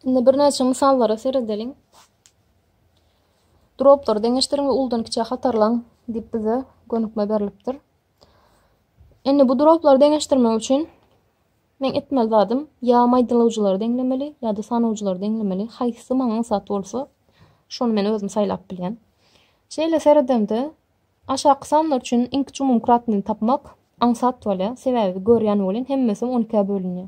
Indi birnäçe mysallara seredeliň. Droplary deňeşdiriň we uludan kiçä hatarlaň diýip bize gönükme berilipdir. Indi bu droplary deňeşdirmek üçin men etmeli zadym ýa maýdalawjylary deňlemeli ýa-da sanawjylary deňlemeli. Haýsy maňa aňsat bolsa, şony men özüm saýlap bilýän. Şeýle seredemde aşaky sanlar üçin iň kiçi umumykratnyny tapmak aňsat bolýar. Sebäbi görýän welin hemmesi 12-ä bölünýär.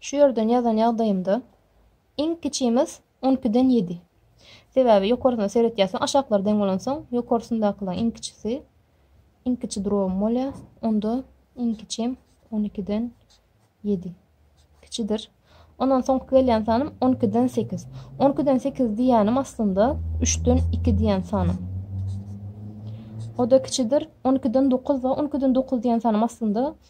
Şu ýerden ýazan ýagdaýymda iň kiçimiz on ikiden ýedi. Sebäbi ýokarsyna seretýärsiň, aşaklary deň bolansoň, ýokarsyndakylaň iň kiçisi, iň kiçi drobym bolýar. Onda iň kiçim on ikiden ýedi. Kiçidir. Ondan soňky gelýän sanym on ikiden sekiz. On ikiden sekiz diýýänim aslynda üçden iki diýen sanym. O-da kiçidir. On ikiden dokuz bar. On ikiden dokuz diýen sanym aslynda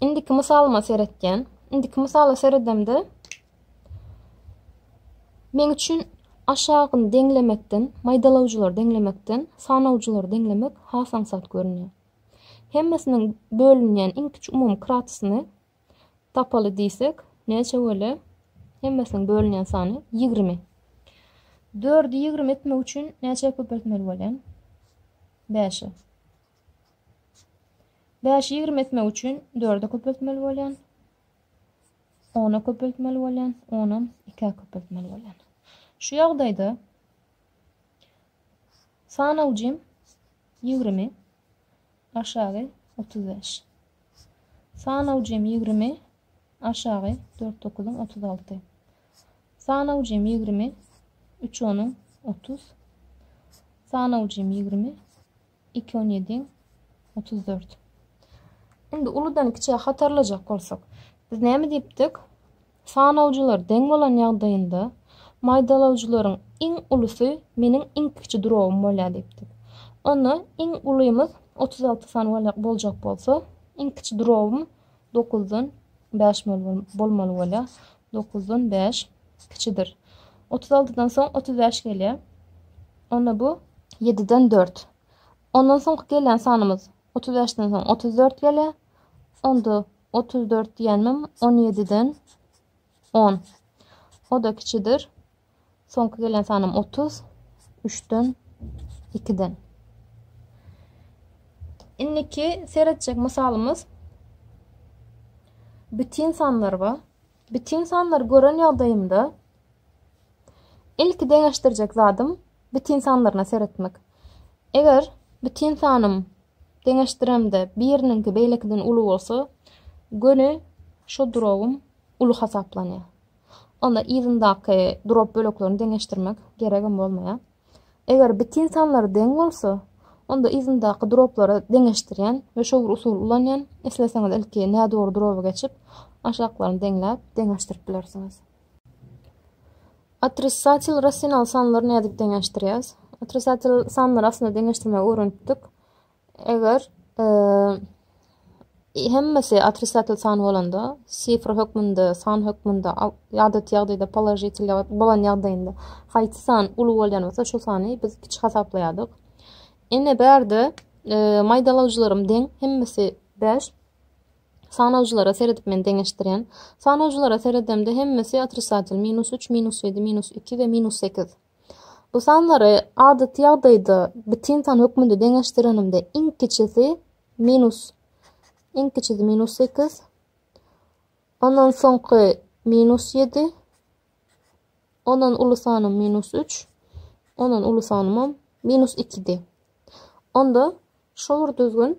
Indiki mysalyma seretýän. Indiki mysala seredemde men üçin aşagyny deňlemekden, maýdalawjylary deňlemekden sanawjylary deňlemek has aňsat görünýär. Hemmesiniň bölünýän iň kiçi umumy kratsyny tapaly diýsek, näçe bolýar? Hemmesiniň bölünýän sany 20. 4-i 20 etmek üçin näçe köpeltmeli bolýar? 5-e. Bäşi ýigrimi etmek üçin dörde köpeltmeli bolýan. Ona köpeltmeli bolýan, onam ikä köpeltmeli bolýan. Şu ýagdaýda sanawjym ýigrimi aşagy otuz bäş. Sanawjym ýigrimi aşagy dört dokuzyň otuz alty. Sanawjym ýigrimi üç onuň otuz. Sanawjym ýigrimi Iki on ýedi, otuz dört. Indi uludan kiçä hatarlajak bolsak, biz näme diýipdik? Sanawjylar deň bolan ýagdaýynda maýdalawjylaryň iň ulusy meniň iň kiçi duragym bolýar diýipdik. Onda iň ulymyz otuz alty sany boljak bolsa, iň kiçi duragym dokuzdan bäş bolmaly bolýar. Dokuzdan bäş kiçidir. Otuz altydan soň otuz bäş gelýär. Onda bu. Ýediden dört. Ondan soňky gelýän sanymyz otuz bäşden soň otuz dört gelýär. Onda otuz dört diýenmem on ýediden on. O-da kiçidir. Soňky gelen sanym otuz üçden ikiden. Indiki seretjek mysalymyz bütin sanlar ba. Bütin sanlar gören ýagdaýymda ilki deňeşdirjek zadym bütin sanlaryna seretmek. Eger bütin sanym deňeşdiremde biriniňki beýlekiden uly bolsa, göni şu durowym uly hasaplanýar. onda yzyndaky durop böleklerini deňeşdirmek geregem bolmaýar. Eger bitin sanlar deň bolsa, onda yzyndaky duroplary deňeşdirýän we şu bir usuly ulanýan, isleseňiz ilki nädogry duroba geçip, aşaklaryny deňläp, deňeşdirip bilersiňiz. Otrisatel rasional sanlary nädip deňeşdirýäs? Otrisatel sanlary aslynda deňeşdirmegi öwrenipdik. Eger hemmesi otrisatel san bolanda, sifr hökmünde, san hökmünde, ýadat ýagdaýda položitel bolan ýagdaýynda haýsy san uly bolýan bolsa, şu sany biz kiçi hasaplaýardyk. Ine bärde e, maýdalawjylarym deň, hemmesi 5. Sanawjylara seredip men deňeşdirýän. Sanawjylara seredemde hemmesi otrisatel, minus 3, minus 7, minus 2 we minus 8. Bu sanlary adaty ýagdaýda bitin san hökmünde deňeşdirenimde iň kiçisi minus iň kiçisi minus sekiz ondan soňky minus ýedi ondan uly sanym minus üç ondan uly sanymam minus ikidi onda şol bir düzgün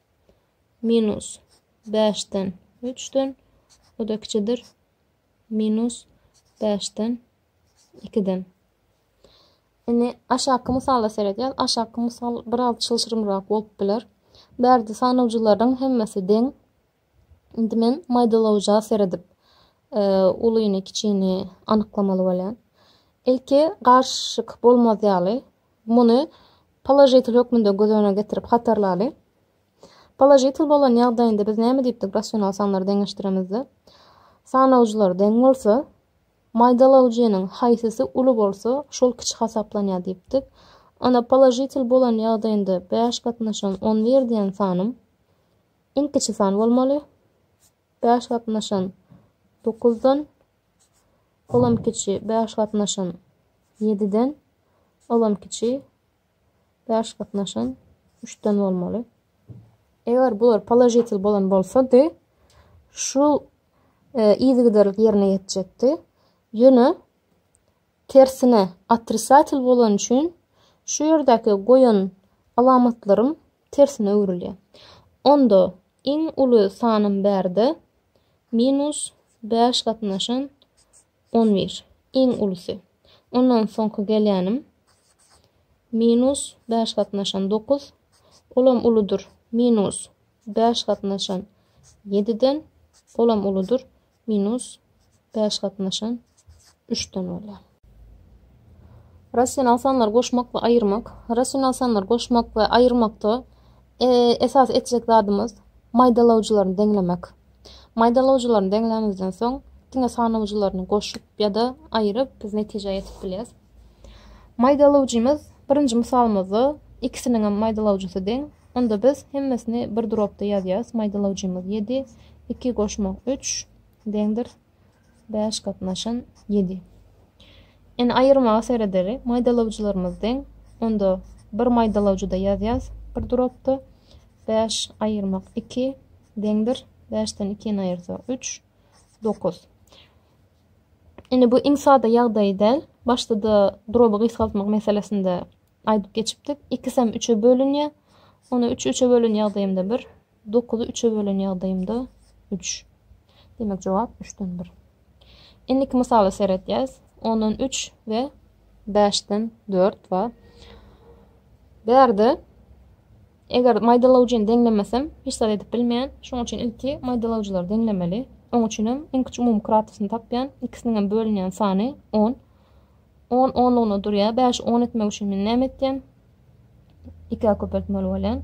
minus beşden üçden o-da kiçidir minus beşden ikiden. Indi aşaky mysala seredýäs. Aşaky mysal biraz çylşyrymrak bolup biler. Bu ýerde sanawjylaryň hemmesi deň. Indi men maýdalawja seredip, e, ulyny, kiçini anyklamaly bolýan. Ilki garşyk bolmaz ýaly Muny položitel hökmünde göz öňüne getirip hatarlalyň. Položitel bolan ýagdaýynda biz näme diýipdik rasional sanlary deňeşdiremizde? Sanawjylar deň bolsa, maýdalawjynyň haýsysy uly bolsa, şol kiçi hasaplanýar diýipdik. Onda položitel bolan ýagdaýynda bäş gatnaşan on bir diýen sanym iň kiçi san bolmaly. Bäş gatnaşan, dokuzdan, olam kiçi, bäş gatnaşan, ýediden, olam kiçi, bäş gatnaşan, üçden bolmaly. Eger bular položitel bolan bolsady, şu e, ýerine ýetjekdi. Ýöne Tersine, otrisatel bolany üçin şu ýerdäki goýan alamatlarym tersine öwrülýär. Onda iň uly sanym bärde minus bäş gatnaşan on bir, iň ulusy. Ondan soňky gelýänim minus bäş gatnaşan dokuz, olam uludyr, minus bäş gatnaşan ýediden, olam uludyr, Minus bäş gatnaşan üçden bolýar. Rasional sanlary goşmak we aýyrmak. Rasional sanlary goşmak we aýyrmakda esas etjek zadymyz maýdalawjylaryny deňlemek. Maýdalawjylaryny deňlämizden soň diňe sanawjylaryny goşup ýa-da aýyryp biz netijä ýetip bilýäs. Maýdalawjymyz birinji mysalymyzda ikisiniň hem maýdalawjysy deň, Onda biz hemmesini bir dropda ýazýarys, maýdalawjymyz ýedi, iki goşmak üç, deňdir bäş gatnaşan ýedi. Ine aýyrmaga seredeli, maýdalawjylarymyz deň, onda bir maýdalawjyda ýazýarys, bir dropda, bäş aýyrmak iki, deňdir bäşden ikini aýyrsak üç, dokuz. Ine bu iň sada ýagdaýy däl, başda-da droby gysgaltmak meselesinde aýdyp geçipdik. Ikisem üçe bölünýär. Ony üçi üçe bölen ýagdaýymda bir, dokuzy üçe bölen ýagdaýymda üç. Demek, jogap üçden bir. Indiki mysala seretýäs. Ondan üç we bäşden dört bar. Bu ýerde eger maýdalawjyny deňlemesem, hiç zat edip bilmeýän. Şonuň üçin ilki maýdalawjylary deňlemeli. Oň üçin hem iň kiçi umumy kratosny tapýan. Ikisiniň hem bölünýän sany on. On onlugyna durýar. Bäşi on etmek üçin men näme etýän? Ikä köpeltmeli bolýan.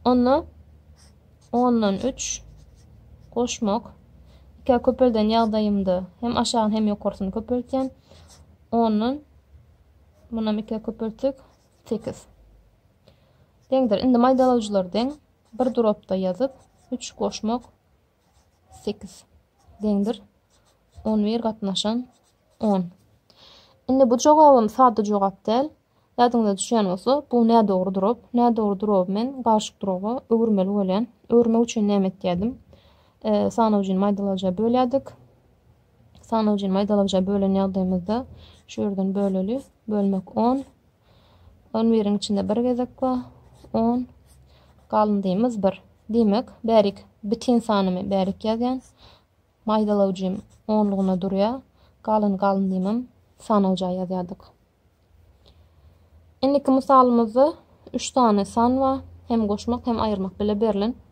Onda ondan üç goşmak. Ikä köpelden ýagdaýymda hem aşagyny hem ýokarsyny köpeltýän. Ondan munam ikä köpeltdik. Sekiz. Deňdir. Indi maýdalawjylar deň. Bir duropda ýazyp, üç goşmak sekiz deňdir on bir gatnaşan on indi bu jogabym sada jogap däl ýadyňyza düşýän bolsa bu nädogry durap nädogry duraby men garşyk duraba öwürmeli bolýan öwürmek üçin näme etýädim e, sanawjyny maýdalaja bölýärdik sanawjyny maýdalaja bölen ýagdaýymyzda şu ýerden böleli bölmek on On biriň içinde bir gezek bar. On. Galyndyýmyz bir. Diýmek, bärik bitin sanymy bärik ýazýan. Maýdalawjym onlugyna durýar. Galan galyndymym sanawja ýazýardyk. Indiki mysalymyzda üç sany san bar. Hem goşmak, hem aýyrmak bile berlen.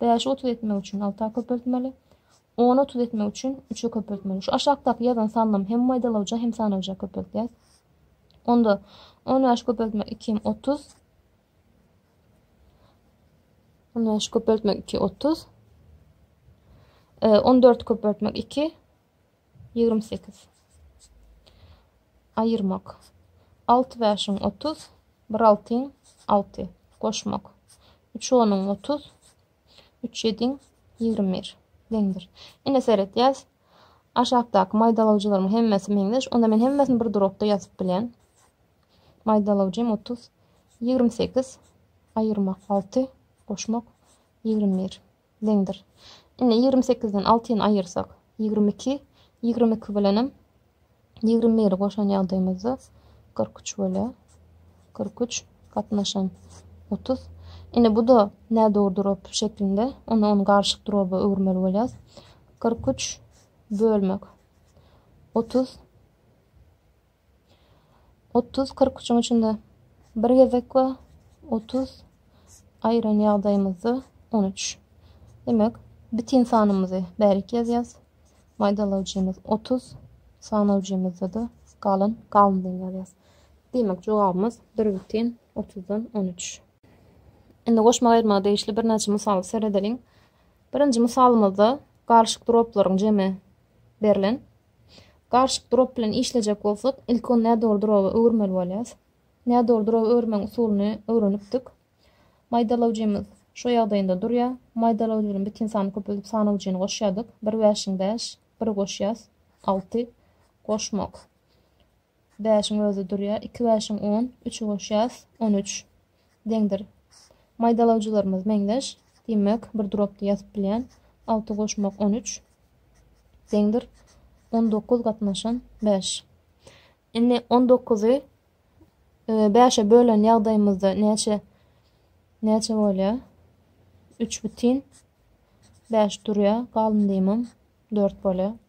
Bäşi otuz etmek üçin alta köpeltmeli. Ony otuz etmek üçin üçe köpeltmeli. Şu aşakdaky ýazan sanlamy hem maýdalawja, hem sanawja köpeltýäs. Onda on bäş köpeltmek iki hem otuz. On bäş köpeltmek iki otuz. E, on dört köpeltmek iki. Ýigrimi sekiz. Aýyrmak. Alty bäşiň otuz, bir altyň alty. Goşmak. Üç onuň otuz, üç ýediň ýigrimi bir. Deňdir. Ine seret, ýaz. Aşakdaky maýdalawjylaryň hemmesi meňzeş. Onda men hemmesini bir durokda ýazyp bilýän. Maýdalawjym otuz, ýigrimi sekiz, aýyrmak alty, goşmak ýigrimi bir. deňdir. Indi ýigrimi sekizden altyny aýyrsak, ýigrimi iki, ýigrimi iki bilenem ýigrimi biri goşan ýagdaýymyzda kyrk üç böle kyrk üç gatnaşan otuz. Indi bu-da nädogry durap şeklinde, onda ony garyşyk duraba öwürmeli bolýarys. Kyrk üç bölmek otuz Otuz kyrküçiň içinde bir gezek we otuz aýran ýagdaýymyzda on üç. Demek, bitin sanymyzy bärik ýazýas. Maýdalawjymyz otuz, sanawjymyzda-da galan galyndyny ýazýas. Diýmek, jogabymyz bir bitin otuzdan on üç. Indi goşmak-aýyrmaga degişli birnäçe mysaly seredeliň. Birinji mysalymyzda galyşyk droplaryň jemi berlen. Garşyk durap bilen işlejek bolsak, ilki nädogry duraby öwürmeli bolýarys. Nädogry duraby öwürmegiň usulyny öwrenipdik. Maýdalawjymyz şu ýagdaýynda durýar. Maýdalawjy bilen biten sany köpeldip sanawjyny goşýardyk. Bir bäşiň bäş, biri goşýas, alty. Goşmak. Bäşiň özi durýar. Iki bäşiň on, üçi goşýas, on üç. Deňdir. Maýdalawjylarymyz meňzeş. Diýmek, bir durapda ýazyp bilýän. Alty goşmak on üç. Deňdir. On dokuz gatnaşan bäş. Indi on dokuzy bäşe bölen ýagdaýymyzda näçe näçe bolýar? Üç bütin bäş durýar. Galyn diýmem. Dört bolýar.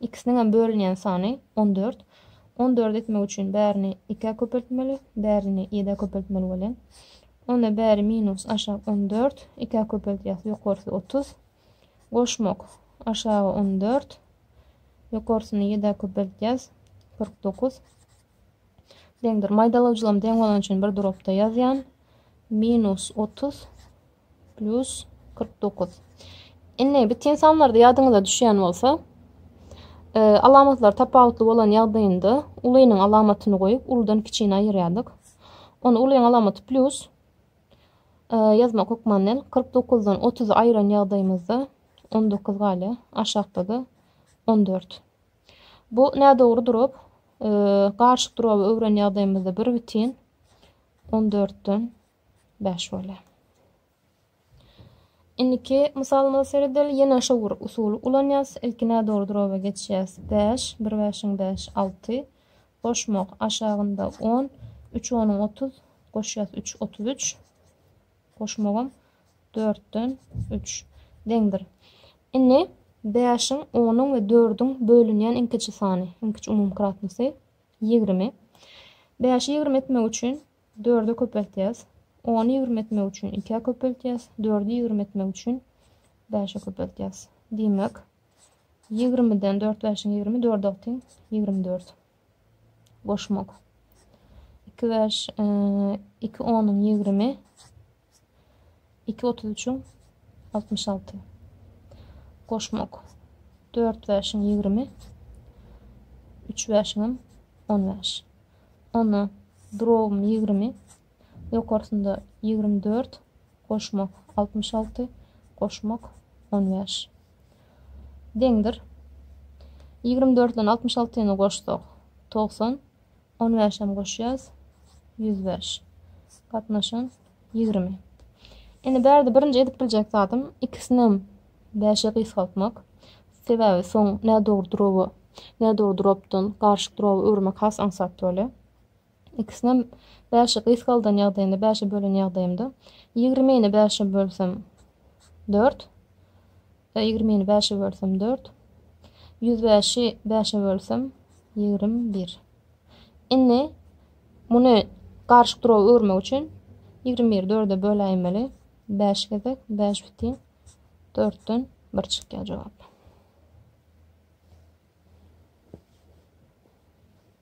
Ikisiniňem bölünýän sany on dört. On dört etmek üçin bärini ikä köpeltmeli, bärini ýedä köpeltmeli welin. Onda bäri minus aşak on dört, ikä köpeltýäs, ýokarsy otuz. Goşmak, aşagy on dört, ýokarsyny ýedä köpeltýäs, kyrk dokuz. Deňdir. Maýdalawjylarym deň bolany üçin bir durapda ýazýan. Minus otuz. Plus kyrk dokuz. Indi bitin sanlarda ýadyňyza düşýän bolsa, e, alamatlar tapawutly bolan ýagdaýynda ulynyň alamatyny goýup, uludan kiçini aýyrýardyk. Onda ulyň alamaty plus e, ýazmak hökman del. Kyrk dokuzdan otuzy aýyran ýagdaýymyzda on dokuz galýar. Aşakda-da on dört. Bu nädogry durap, e, garşyk duraby öwren ýagdaýymyzda bir bitin on dörtden Bäş bole. Indiki mysalymyza seredeli. Ýene şo bir usuly ulanýas. Ilki nädogry droba geçýäs. Bäş, bir bäşiň bäş, alty. Goşmak aşagynda on. Üç onuň otuz. Goşýas üç, otuz üç. Goşmagam dörtden üç. Deňdir. Indi bäşiň, onuň we dördüň bölünýän iň kiçi sany, iň kiçi umumykratnysy ýigrimi. Bäşi ýigrimi etmek üçin Dörde köpeltýäs. Ony ýigrimi etmek üçin ikä köpeltýäs. Dördi ýigrimi etmek üçin bäşe köpeltýäs. Diýmek, ýigrimiden dört bäşiň ýigrimi, dörde teň ýigrimi dört. Goşmak. Iki bäş, iki onyň ýigrimi. Iki otuz üçiň altmyş alty. Goşmak. Dört bäşiň ýigrimi. Üç bäşiňem on bäş. Onda durogum ýigrimi. Ýokarsynda ýigrimi dört. Goşmak altmyş alty. Goşmak on bäş. Deňdir. Ýigrimi dörtden altmyş altyny goşsak, togsan. On bäşem goşýas, ýüz bäş. Gatnaşan, ýigrimi. Indi bärde birinji edip biljek zadym ikisinem bäşe gysgaltmak. Sebäbi soň nädogry duroby nädogry duropdan garyşyk duroba öwürmek has aňsat bolýar. Ikisinem bäşe gysgaldan ýagdaýynda, bäşe bölen ýagdaýymda, ýigrimini bäşe bölsem dört, Ýigrimini bäşe bölsem, dört. Ýüz bäşi bäşe bölsem, ýigrimi bir. Indi muny garyşyk durawa öwürmek üçin ýigrimi biri dörde böläýmeli. Bäş gezek bäş bütin dörtden bir çykýar jogap.